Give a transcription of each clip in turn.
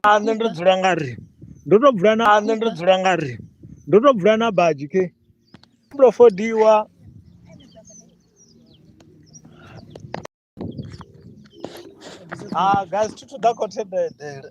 a nṋe ndo dzula nga ri ndo to dzula na a nṋe ndo dzula nga ri ndo to dzula na badzhi ke ndo fodiwa ha guys thi thu ḓa khothe bedele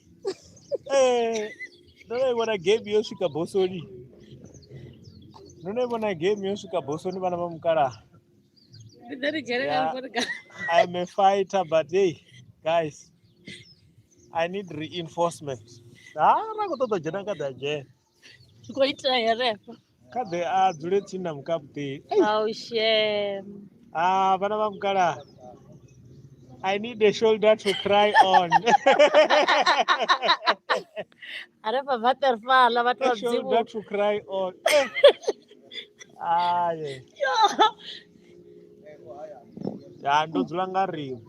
Eh, ndo no i vhona game yo swika bosoni ndo no i vhona game yo swika bosoni vhana vha mukalaha Ndi ḓo ri dzhenelela Yeah. ngori ga- I'm a fighter, but hey, guys, I need reinforcement. Ah, ra khou ṱoḓa u dzhena nga ḓa dzhena. zwi khou itea herefha kha ḓe a dzule tsini na mukaputeni aushem ah vhana vha mukala i need a shoulder to cry on herefha vaterfala vhathu a vhadzimu shoulder to cry on aye ya ndo dzula nga rimu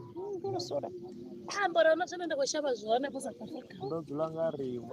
ambora na tshone ndi khou shavha zwone ku sa ndo dzula nga rimu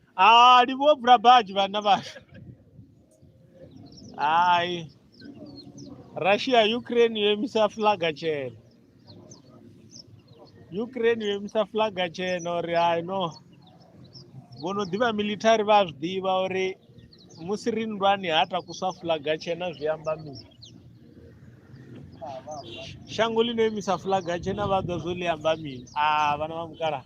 Ah, ndi vho Brabaj vhana vhashu. Hai. Russia Ukraine yo imisa flag tshena. Ukraine yo imisa flag tshena uri hai no. Vho no ḓivha military vha a zwi ḓivha uri musi ri nndwani ha takuswa flag tshena zwi amba mini. Shango ḽi no imisa flag tshena vha ḓo zwo ḽi amba mini? Ah, vhana vha mukalaha.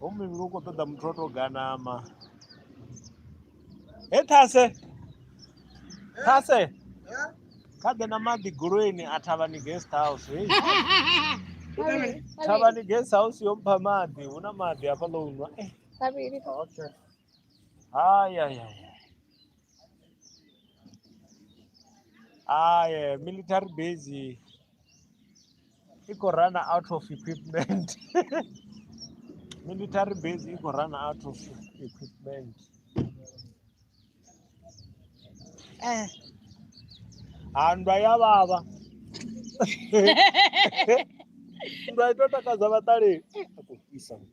ho muvhili u khou ṱoḓa muthu o tou ganama he thase thase kha ḓe na maḓi goloini a thavhani guest house hei thavhani guest house yo mpha maḓi hu na maḓi hafha ḽo unwa eh. haya ya Ah, yeah, military base i khou run out of equipment military base i khou run out of equipment eh handwa ya vhavha ndwa ito takadza vhaṱaleli a khou fhisa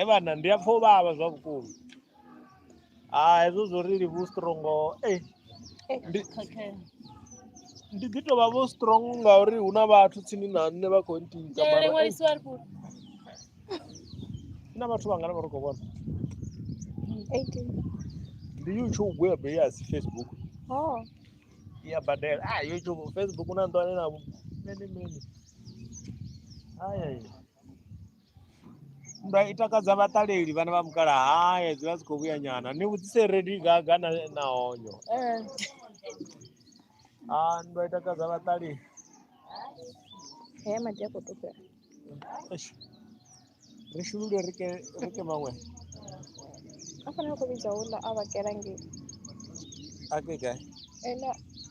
e vhana ndi a pfha u vhavha zwa vhukuma a hezwo zwo ri livhu strongo e ndi ndi ḓi tovha vho strong ngauri hu na vhathu tsini na nṋe vha khou ntiisa na vhathu vhangana vha ri khou vhona ndi youtube ya beli asi facebook oh. ya badela a ah, youtube facebook na nḓwane na mene mene Nndwa i takadza vhaṱaleli vhana vha mukala haye dzi vha dzi khou vhuya nyana ni vhudzise redi gaga na na honyo ee a nndwa i takadza vhaṱaleli haya maḓi a khou tupela ri shulule ri ke ri ke maṅwe a fana a khou vhidza houḽa a vha kela ngei a ke gai ene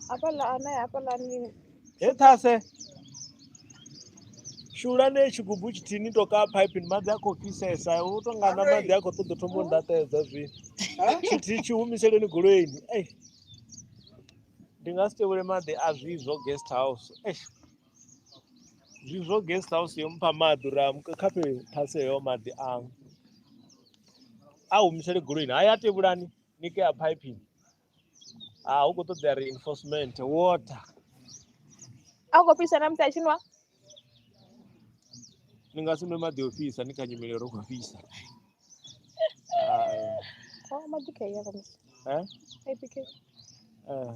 hafhaḽa ane hafhaḽani he ṱhase shulani tshigubu tshithihi ni to kaa phaipini maḓi a khou fhisesa u to nga na maḓi a khou ṱoḓa thoma u ndaṱedza zwino tshithihi tshi humiseleni goloini ei ndi nga si tevhele maḓi a zwizwo guest house eish zwi zwo guest house yo mpha maḓi uri a muka- kha fhe- phase heyo maḓi aṅwe a humisele goloini haya a tevhulani ni ke a piping a hu khou ṱoḓea reinforcement water a khou fhisa na musi a tshinwa ni nga si nwe maḓi o fhisa ni kha nyimele ro khou fhisa Ah, maḓi khe ya khamusi eh, eh.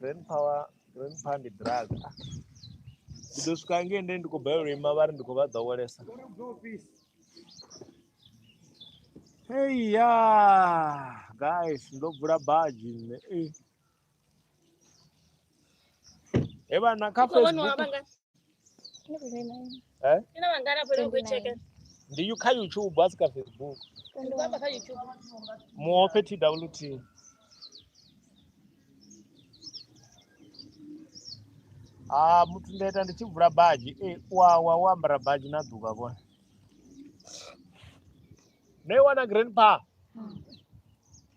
Grand power, grand power ndi drug. Ndi ḓo swika ngei nde ndi khou balelwa ima vha ri ndi khou vha ḓowelesa. Hey ya guys ndo bvula badzhi nṋe. Eh. He vhana kha Facebook eh Ina wangana pale ukucheke. ndiyu kha youtube asi ka facebook Ndibamba ka YouTube. muofe twt ah muthu ndaita ndi tshi bvula badzhi e wawa wo ambara badzhi na ḓuvha vhone no i wana grandpa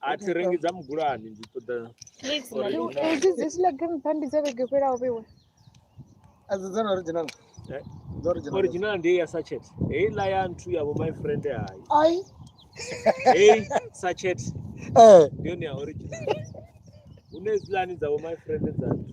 a thi rengi dza mugulani ndi ṱoḓa Please, Or Malume. you- hedzi dzi slagrim bandi dza vhege fhelaho vhewe Adzo dzana original. Eh? Dza original. original ndi ya sachet heiḽa ya nthu yavho my friend hayi Ai. hei sachet Eh. ndi yone ya original hune dzilani dzavho my friend dza nthu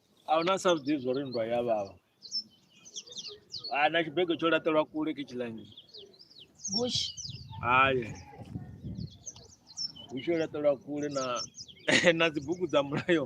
a hu na sa zwi ḓivhi zwo ri nndwa ya vhavha a na tshibego tsho laṱelwa kule ke tshilangi bush haye hu tsho laṱelwa kule na na dzibugu dza mulayo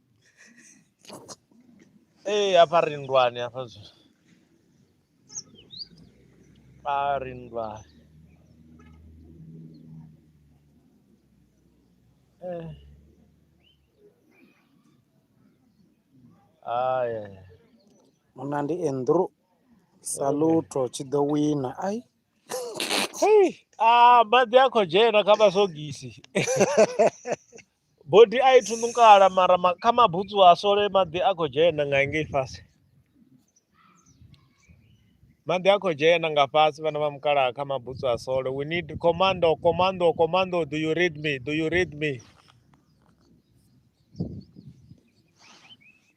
Ee, hafha ri nndwani hafha zwi a ri nndwani Eh. Ai, ai, ai. munna ndi andrew saluto tshi ḓo wina ai Hei, ah, maḓi a khou dzhena kha masogisi Bodi a i thunukala mara ma, kha mabutsu a sole maḓi a khou dzhena nga ngei fhasi. Maḓi a khou dzhena nga fhasi vhana vha mukalaha kha mabutsu a sole. We need commando, commando, commando, do you read me? Do you read me?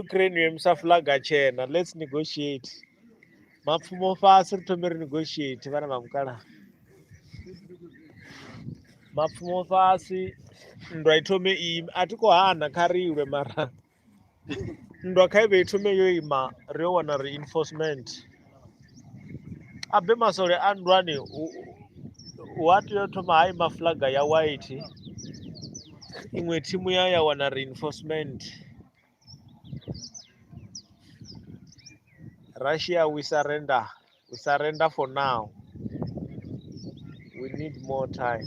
ukraine yo imisa flaga tshena let's negotiate mapfumo fasi ri thome ri negotiate vhana vha mukala mapfumo fasi nndwa i thome ime a thi khou hana kha ri ilwe mara nndwa kha i vhe i thome yo ima ri yo wana reinforcement abe masole a nndwani wa tea u thoma ha ima flaga ya white iṅwe thimu ya ya wana reinforcement russia we surrender we surrender for now we need more time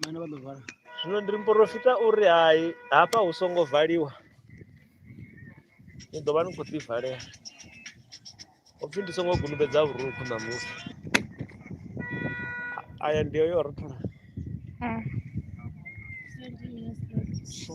vhana vha ḓo vala zwino ndi muporofita uri hai hafha hu songo valiwa ni ḓo vha ni khou ḓivalela upfhi ndi songo gulubedza vhurukhu na muthu aya ndi yo rothola Mm. so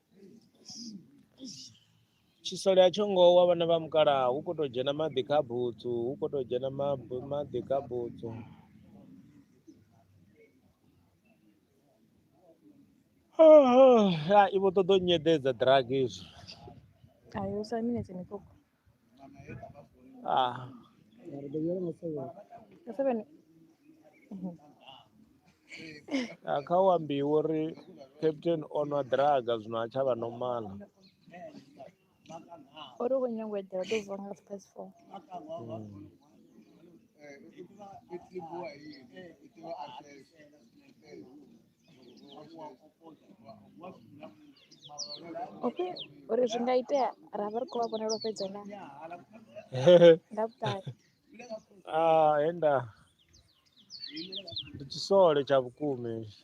tshisole a tsho ngo wa vhana vha mukalaha hu khou tou dzhena maḓi kha butsu hu khou tou dzhena mabu- maḓi kha butsu Ah, ah, i vho ṱoḓa u nyeḓedza drug izwi Ayo, usa minetse mikoko. Ah. Ah, kha u ambiwa uri captain o nwa draga zwino a tsha vha nomala uri u khou nyanga u eḓela ḓo vuwa nga space four okay uri zwi nga itea ra vha ri khou vha vhonela fhedza na nga vhuṱali ah henda ndi tshisole tsha vhukuma hetshi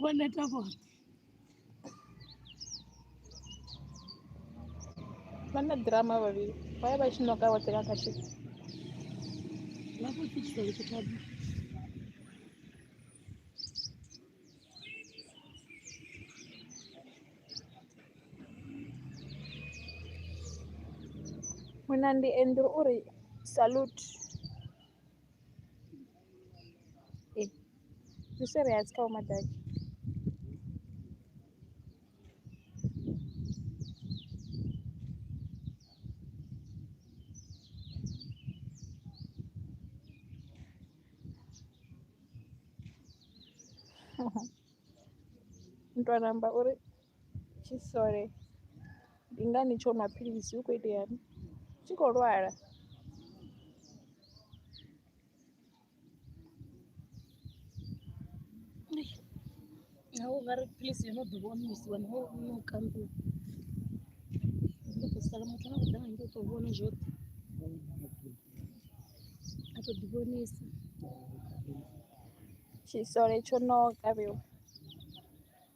Vhone tavho. Vha na ḓirama vhavhili. Vha ya vha tshi ṋoka vhoṱhe nga kha tshithu. Vha khou fitisa lutho tavho. Munandi Andrew o ri, Salute! Eh, Yusuf ya kawo madaki. Mntwana amba uri tshisole ndi ngani tsho nwa philisi hu khou iteani tshi khou lwala. naho nga ri philisi yo no ḓi vhonisiwa naho no kanḓiwa ndo ḓo sala muthu na kuḓa ngei to vhona zwoṱhe a to ḓi vhonisa tshisole tsho no kavhiwa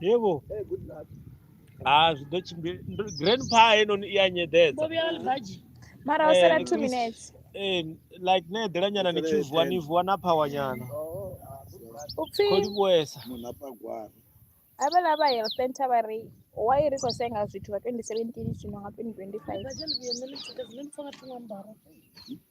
yebo ah zwi ḓo tshimbila grandpa heinoni i a nyeḓedza mara ho sala eh, two minutes eh, like ne eḓela nyana ni tshi vuwa ni vuwa na phawa nyana upfhi kholi vhuesa munhu apa gwara havhala vha ya center vha ri why ri khou senga zwithu vha 2017 zwino nga 2025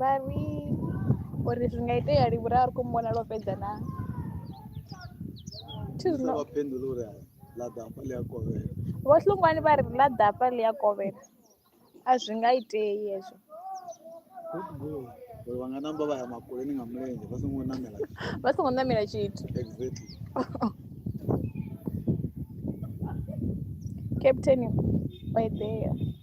Vha ri, O ri, Zwi nga itea lini uri a ri khou mu vhona lwo fhedza naa? Thi zwi Isa no- vha phendula uri hai, ḽa ḓa hafha ḽi a kovhela. Vho Hlungwani vha ri, Ḽa ḓa hafha ḽi a kovhela. A zwi nga itei hezwo. Good goal. Uri vha nga namba vha ya makoleni nga mulenzhe vha songo namela. Vha songo ṋamela tshithu. Exactly. Captain o eḓela.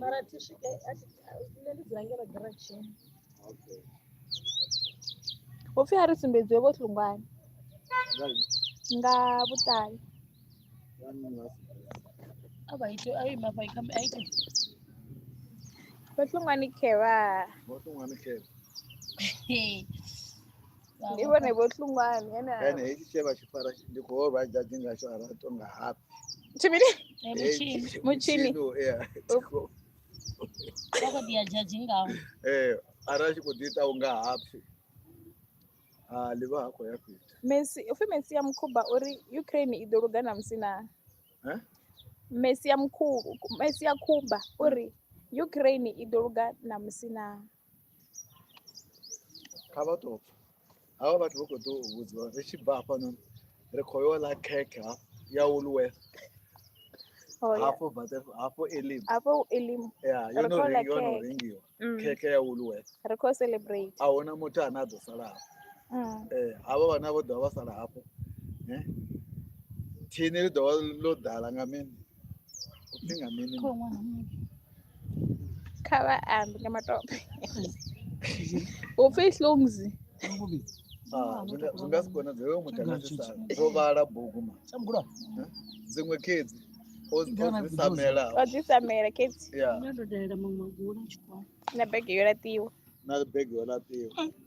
mara thi swike nṋe ndi dzula ngeno giratshini upfhi a ri sumbedziwe vho hlungwani nga vhuṱali a vha ite a ima vha ikhambi a ite vho hlungwani khevha vho hlungwani khevha ndi vhone vho hlungwani ene ene hetshi tshe vha tshifara ndi khou vha dzhadzi ngatsho a rato nga hapi tshimini mutshini ara tshi khou ḓi ita u nga hapfi ha ḽi vha ha khou ya fhethu messi upfhi messi ya mukhuba uri ukraine i ḓo luga na musi na messi ya mukhuba messi ya khuba uri ukraine i ḓo luga na musi na kha vha tou pfha havha vhathu vha khou ḓo u vhudziwa ri tshi bva hafhanoni ri khou yo ḽa khekhe ya woolworth oh, hafho bate hafho elim hafho elim ya yo no ringiwa yo no ringiwa mm. khekhe ya woolworth ri khou celebrate a huna muthu ane a ḓo sala hafho mm. eh havha vhana vho ḓo vha sala hafho eh thini ḽi ḓo vha ḽo ḓala nga mini Upfi nga mini? Kho ṅwana muṅwe. Kha vha ambe nga matope. Upfi hlungs. Ah, zwi nga- zwi nga si konadzee hoyo muthu anga si sala dzo vhala bugu ma dziṅwe khedzi o o dzi samela O dzi samela khedzi ya Ndo dalela maṅwe magula tshikolo. na bege yo laṱiwa. na bege yo laṱiwa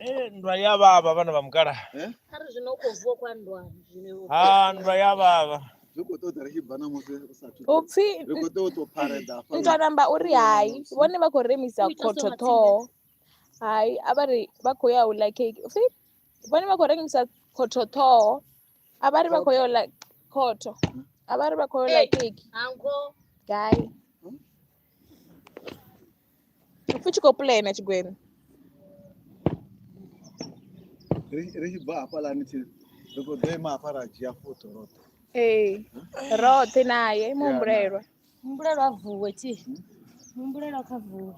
Eh, nndwa ya vhavha vhana vha mukala Eh? kha ri zwino u khou vuwa kwa nndwani zwine u- ha nndwa ya vhavha zwi khou ṱoḓa ri tshi bva na musi u sa thu upfi ri khou tea u tou phareda hafha nto namba uri hai vhone vha khou remisa Ui, khotho Tasoma, ṱhoho hai a vha ri vha khou ya u ḽa cake upfi vhone vha khou rengisa khotho ṱhoho a vha ri vha khou ya u ḽa khotho a vha ri vha khou ya u ḽa Hey. cake hango gai fu tshi khou pulena tshigwena ri tshi bva hafhalani thi ri khou ḓo ima hafha ra dzhia foto roṱhe ee roṱhe naye muhumbulelwa muhumbulelwa a vuwe thi muhumbulelwa kha vuwe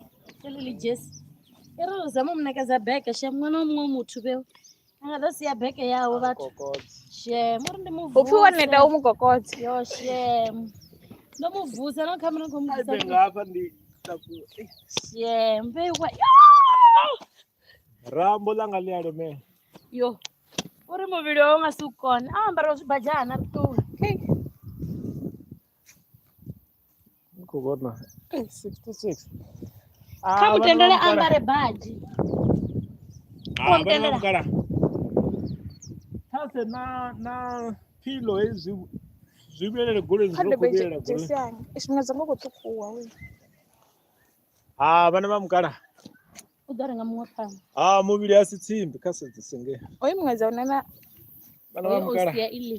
eḽi ḽi jesi i ri zama u mu ṋekedza beke she ṅwana wa muṅwe muthu vheo a nga ḓo sia beke yawe vhathu shem uri ndi muvuse upfi wo neta u mu kokodze yo shem ndo mu vusa no khamera khou muvusashem veiwa rambo ḽanga ḽi a lomela yo uri muvhili wawe u nga si u kone a ambara zwibadzhana ri ṱuwe Ndi khou vhona eh, 66 Ah, kha vhana vha mutendele a mukala- ambare badi ah, vhana vha mutendela. mukala. thase na na philo hezwi zwi vhuyelele goleni kha zwi ḓo khou ndebe vhuyelela goleni dzhesi yanga tshifhinga dzanga u khou ṱhukhuwa we ah vhana vha mukala u ḓo renga muṅwe phanḓa ah muvhili a si tsimbi kha sedzise nge oyo muṅwe dza unana vhana vha mukala sia iḽi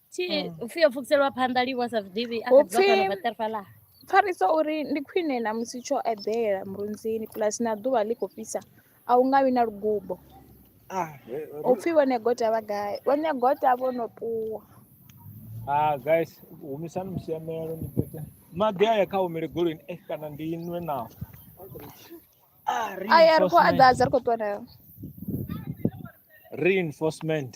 Thi Mm. upfi yo pfukiseliwa phanḓa livho sa zwiḓivhi a Upfi- kha dzivha vhaṱerfa ḽa. pfarisa uri ndi khwine na musi tsho eḓela murunzini plus na ḓuvha ḽi khou fhisa a u nga vhi na lugubo Ah, eh, eh, u pfhi vhone gota vha gai vhone gota vho no ṱuwa ah guys humisani musiamelo ni bete maḓi aya kha humele golweni eh kana ndi inwe nawo Ah, aya ri khou reinforcement. aḓadza ri khou ṱuwa nayo reinforcement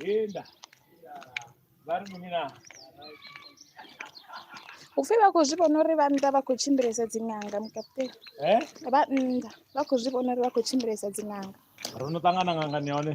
Enda. Vari munina. upfe vha khou zwi vhona uri vhannḓa vha khou tshimbilesa dziṅanga mukaputeni eh? vhannḓa vha khou zwi vhona uri vha khou tshimbilesa dziṅanga ro no ṱangana ngangani ya hone